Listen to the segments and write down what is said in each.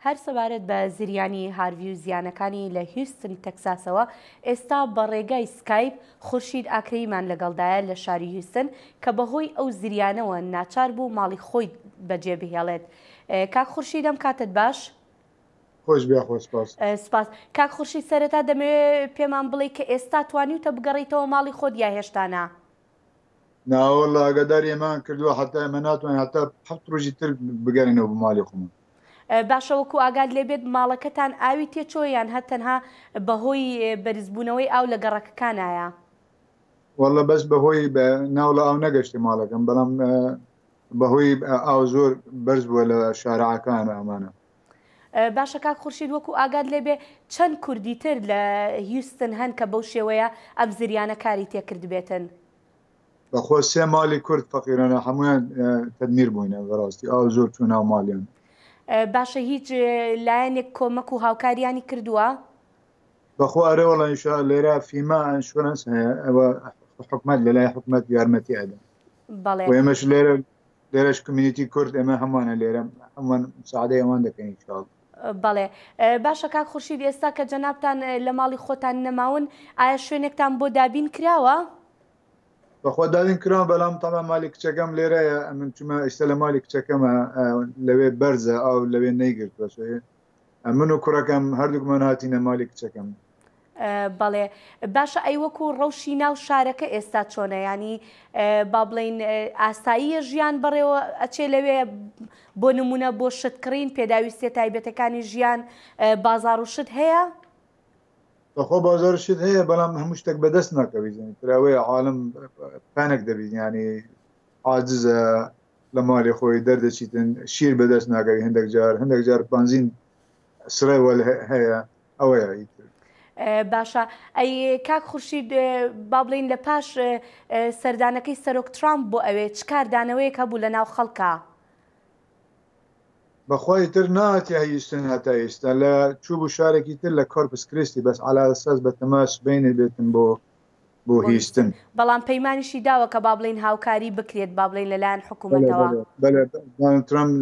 هەر سەبارەت بە زریانی هارڤی و زیانەکانی لە هیوستن تەکساسەوە ئێستا بە ڕێگای سکایپ خورشید ئاکرەیمان لەگەڵدایە لە شاری هیوستن کە بەهۆی ئەو زریانەوە ناچار بوو ماڵی خۆی بەجێ بهێڵێت کاک خورشید ئەم کاتت باش؟ خۆش بیا خۆ سپاس سپاس کاک خورشید سەرەتا دەمەوێت پێمان بڵێ کە ئێستا توانیوتە بگەڕیتەوە ماڵی خۆت یا هێشتانە؟ ناوەڵا ئاگاداری ئێمان کردووە حتا ئێمە ناتوانین حتا حەفت ڕۆژی تر بگەرێنەوە بۆ ماڵی خۆمان. باشە وەکو ئاگات لێبێت ماڵەکەتان ئاوی تێچووە یان هەر تەنها بەهۆی بەرزبوونەوەی ئاو لە گەڕەکەکانایە؟ وەڵا بەس بەهۆی ناوڵە ئاو نەگەشتە ماڵەکەم بەڵام بەهۆی ئاو زۆر بەرز بووە لە شارعەکان ئەمانە باشە کاک خورشید وەکو ئاگات لێبێ چەند کوردی تر لە هیوستن هەن کە بەو شێوەیە ئەم زریانە کاری تێکردبێتن؟ بەخوا سێ مالی کورد فەقیرانە هەموویان تەدمیر بووینە بەڕاستی ئاو زۆر چوو ناو مالیان. باشە هیچ لایەنێک کۆمەک و هاوکاریانی کردووە؟ بەخوا ئەرێ وەڵا ئینشا لێرە فیما ئەنشورەنس هەیە ئەوە حکومەت لەلای حکومەت یارمەتی ئەدەن بەڵێ و ئێمەش لێرە لێرەش کمیونیتی کورد ئێمە هەمووانە لێرە هەمووان مساعدەی ئەوان دەکەین ان شاء اللە. بەڵێ باشە کاک خورشید ئێستا کە جەنابتان لە ماڵی خۆتان نەماون ئایا شوێنێکتان بۆ دابین کراوە؟ بەخوا دابین کراوە بەڵام تەبعەن مالی کچەکەم لێرەیە ئەمن چوومە ئیستە لە مالی کچەکەمە لەوێ بەرزە ئاو لەوێ نەیگرتووە ئەمن و کوڕەکەم هەردووکمان هاتینە مالی کچەکەم بەڵێ باشە ئەی وەکو ڕەوشی ناو شارەکە ئێستا چۆنە ینی با بڵین ئاساییە ژیان بەڕێوە ئەچێ لەوێ بۆ نمونە بۆ شت کڕین پێداویستە تایبەتەکانی ژیان بازار و شت هەیە بەخۆ بازار شت هەیە بەڵام هەموو شتێک بەدەست ناکەویزن تراوەیە عاالم پانێک دەبیزیانی عاجزە لە ماڵی خۆی دەردەچیتن شیر بەدەست ناگەوی هەندێک جار هەندێک جار بنزین سڕێ وەل هەیە ئەوەیە ئیتر باشە ئەی کاک خورشید با بڵین لە پاش سەردانەکەی سەرۆک ترامپ بۆ ئەوێ چ کاردانەوەیەک هەبوو لە ناو خەڵکە بەخوای تر ناتی هەیستن هەتا ئێستا لە چوو بوو شارێکی تر لە کۆرپس کریستی بەس علا ساز بە تەماش بینێ بێتن بۆ بۆ هیشتن. بەڵام پەیمانیشی داوە کە با بڵێین هاوکاری بکرێت با بڵێین لەلایەن حکوومەتەوە. بەڵێ بەڵێ دانڵد ترەمپ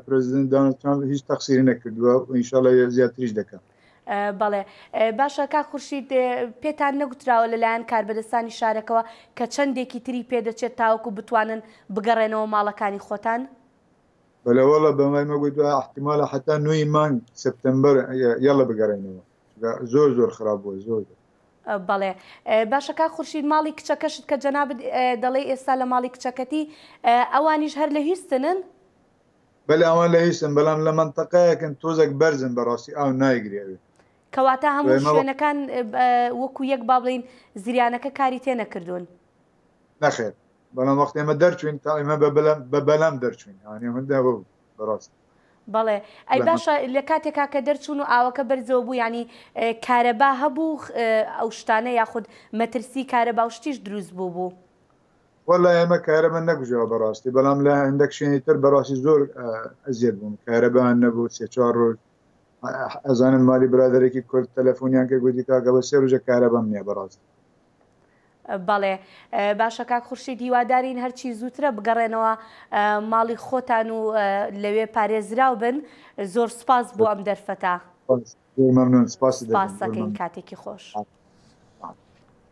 پرێزیدێنت دانڵد ترەمپ هیچ تەقسیری نەکردووە و ان شاء اللە زیاتریش دەکا. بەڵێ باشە کاک خورشید پێتان نەگوتراوە لەلایەن کاربەدەستانی شارەکەوە کە چەندێکی تری پێ دەچێت تاوەکو بتوانن بگەڕێنەوە ماڵەکانی خۆتان؟ بەڵێ وەڵڵە بەمای مەگوتووە ئیحتیمالە حەتا نۆ ی مانگ سپتەمبەر یەڵڵە بگەڕێنەوە. زۆر زۆر خراپ بووە زۆر زۆر. بەڵێ باشە کاک خورشید ماڵی کچەکەشت کە جەنابت دەڵێی ئێستا لە ماڵی کچەکەتی ئەوانیش هەر لە هیستنن؟ بەلێ ئەوان لە هیستن بەلام لە مەنتەقەیەکن تۆزێک بەرزن بەڕاستی ئاو نایگرێ ئەوێ. کەواتە هەموو شوێنەکان وەکو یەک با بڵێین زریانەکە کاری تێ نەکردوون؟ نەخێر بەڵام وەختی ئێمە دەرچووین تا ئێمە بە بەلەم دەرچووین ئەوانێ هەندێ بەڕاست. بەڵێ ئەی باشە لە کاتێکا کە دەرچوون و ئاوەکە بەرزەوە بوو ینی کارەبا هەبوو ئەو شتانە یاخود مەترسی کارەبا و شتیش دروست بوو بوو وەلا ئێمە کارەمە نەگوزەوە بەڕاستی بەڵام لە هەندێک شوێنی تر بەڕاستی زۆر ئەزیێت بوون کارەبان نەبوو سێ چوار ڕۆژ ئەزانم مالی برادێکی کورد تەلەفۆنیان کرد گوتی کاکە بە سێ ڕژە کارەبم نیە بەڕاستی بەڵێ باشە کاک خورشید هیوادارین هەرچی زووترە بگەڕێنەوە ماڵی خۆتان و لەوێ پارێزراو بن زۆر سپاس بۆ ئەم دەرفەتە مەمنون سپاس کاتێکی خۆش.